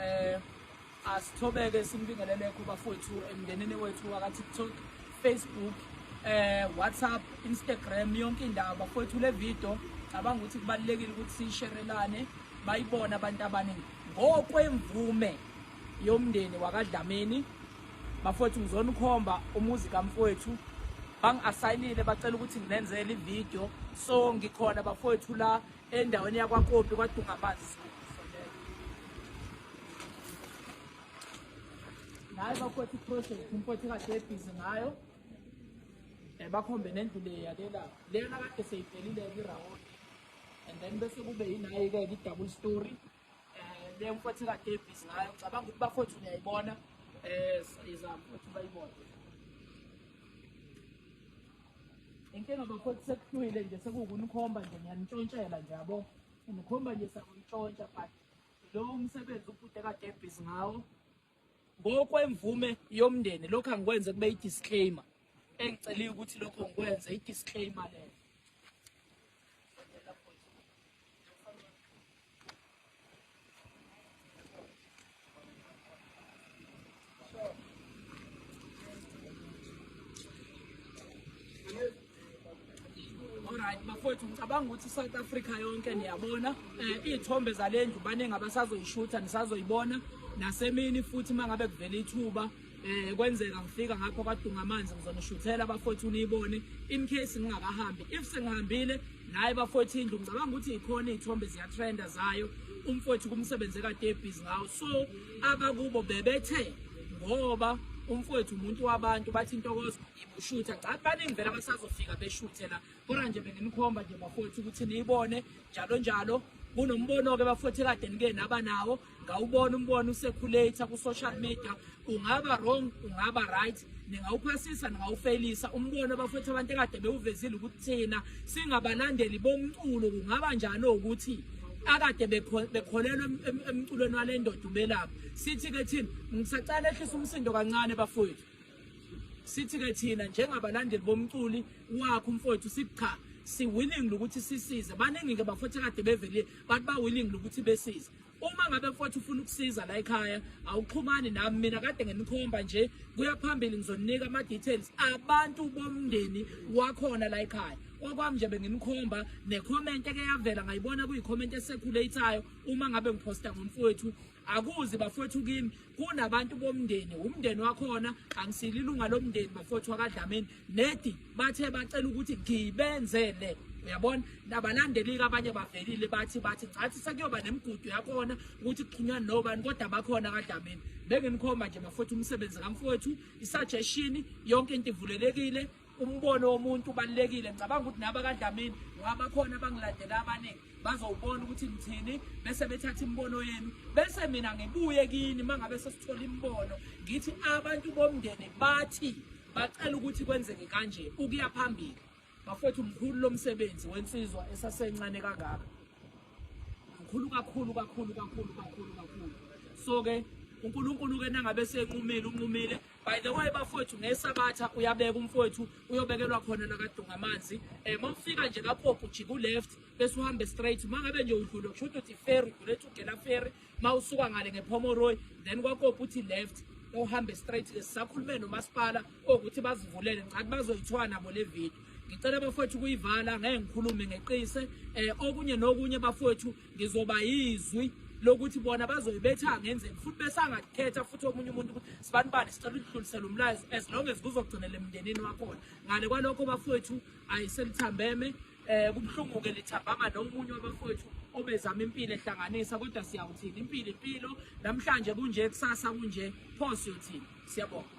eh asithobeke simbingelele kuba futhi emndenini wethu waka TikTok Facebook eh WhatsApp Instagram yonke indawo bafowethu le video cabanga ukuthi kubalekile ukuthi sisherelane bayibona abantu abaningi ngokwemvume yomndeni wakadlamini bafowethu ngizona ukhomba umuzi kamfowethu bangi-asayinile bacela ukuthi nginenzele ividiyo so ngikhona bafowethu la endaweni yakwakopi kwadunga amanzi ngayo bakhotha iproject umfowethu kade ebhizi ngayo um bakhombe nendlu le yalela leyona kade seyivelile-ke irawoni and then bese kube yinayi-ke i-double story eh le mfowethu ka Davis ngayo cabanga ukuthi bafowethu uyayibona eh siza mfowethu bayibona inkinga bafowethu sekuhlwile nje sekuwukunikhomba nje ngiyanitshontshela nje yabo nikhomba nje sakuyitshontsha but lo umsebenzi ubhuti ka Davis ngawo ngokwemvume yomndeni lokho angikwenze kube i-disclaimer engiceliwe ukuthi lokho ngikwenze i-disclaimer leyo Alright bafowethu ngicabanga ukuthi South Africa yonke niyabona eh izithombe zalendlu baningi abasazoyishutha nisazoyibona nasemini futhi mangabe kuvela ithuba eh kwenzeka ngifika ngapha kwadunga amanzi ngizonishuthela bafowethu niyibone in case ngingakahambi if sengihambile naye bafowethu indlu ngicabanga ukuthi ikhona izithombe ziya trenda zayo umfowethu kumsebenze kade busy ngawo so abakubo bebethe ngoba umfowethu umuntu wabantu bathi intokozo shutha cha baningi vele abasazofika beshuthe la kodwa nje benginikhomba nje bafowethu ukuthi niyibone njalo njalo kunombono-ke bafowethu ekade nike naba nawo ngawubona umbono usekhulator ku-social media ungaba wrong ungaba right ningawuphasisa ningawufeyilisa umbono abafowethu abantu ekade bewuvezile ukuthi thina singabalandeli bomculo kungaba njani ukuthi akade bekholelwa emculweni wale ndoda ubelapha sithi-ke thina ngisacala ehlisa umsindo kancane bafowethu sithi ke thina njengabalandeli bomculi wakho umfowethu sithi cha si willing lokuthi sisize baningi ke bafowethu kade bevelile bathi ba willing lokuthi besize uma ngabe mfowethu ufuna ukusiza la ekhaya awuxhumani nami mina kade ngenikhomba nje kuya phambili ngizoninika ama details abantu bomndeni wakhona la ekhaya okwami nje benginikhomba necomment eke yavela ngayibona kuyikhomment esekhuleyithayo uma ngabe ngiposta ngomfowethu akuzi bafowethu kimi kunabantu bomndeni umndeni wakhona angisile ilunga lomndeni bafowethu wakadlamini nedi bathe bacela ukuthi ngibenzele uyabona nabalandelika abanye bavelile bathi bathi ngathi sekuyoba nemigudu yakhona ukuthi kuxhunywa nobani kodwa bakhona kadlamini benginikhomba nje bafowethu umsebenzi kamfowethu isuggestion yonke into ivulelekile umbono womuntu ubalulekile ngicabanga ukuthi naba kadlamini ngabakhona abangilandela abaningi bazowubona ukuthi ngithini bese bethatha imibono yenu bese mina ngibuye kini uma ngabe sesithola imibono ngithi abantu bomndeni bathi bacela ukuthi kwenzeke kanje ukuya phambili bafethu mkhulu lo msebenzi wensizwa esasencane kangaka mkhulu kakhulu kakhulu kakhulu kakhulu kakhulu so-ke unkulunkulu-ke nangabe senqumile unqumile By the way bafowethu ngesabatha uyabeka umfowethu uyobekelwa khona nakadunga amanzi eh mawufika nje kapopo jika uleft bese uhambe straight mangabe nje udlule kusho ukuthi ferry ulethu ugela ferry mawusuka ngale ngephomoroy then kwakopo uthi left uhambe straight ke sisakhulume nomasipala ukuthi bazivulele ngicathi bazoyithwala nabo le video ngicela bafowethu kuyivala ngeke ngikhulume ngeqise eh okunye nokunye bafowethu ngizoba yizwi lokuthi bona bazobe betha ngenzeni futhi besangakhetha futhi omunye umuntu ukuthi sibani bani sicela ukudlulisela umlayezo as long as kuzogcinela emndenini wakhona ngale kwalokho bafowethu ayiselithambeme eh kubuhlungu-ke lithambanga nomunye wabafowethu obezama impilo ehlanganisa kodwa siyawuthini impilo impilo namhlanje kunje kusasa kunje pho siyothini siyabonga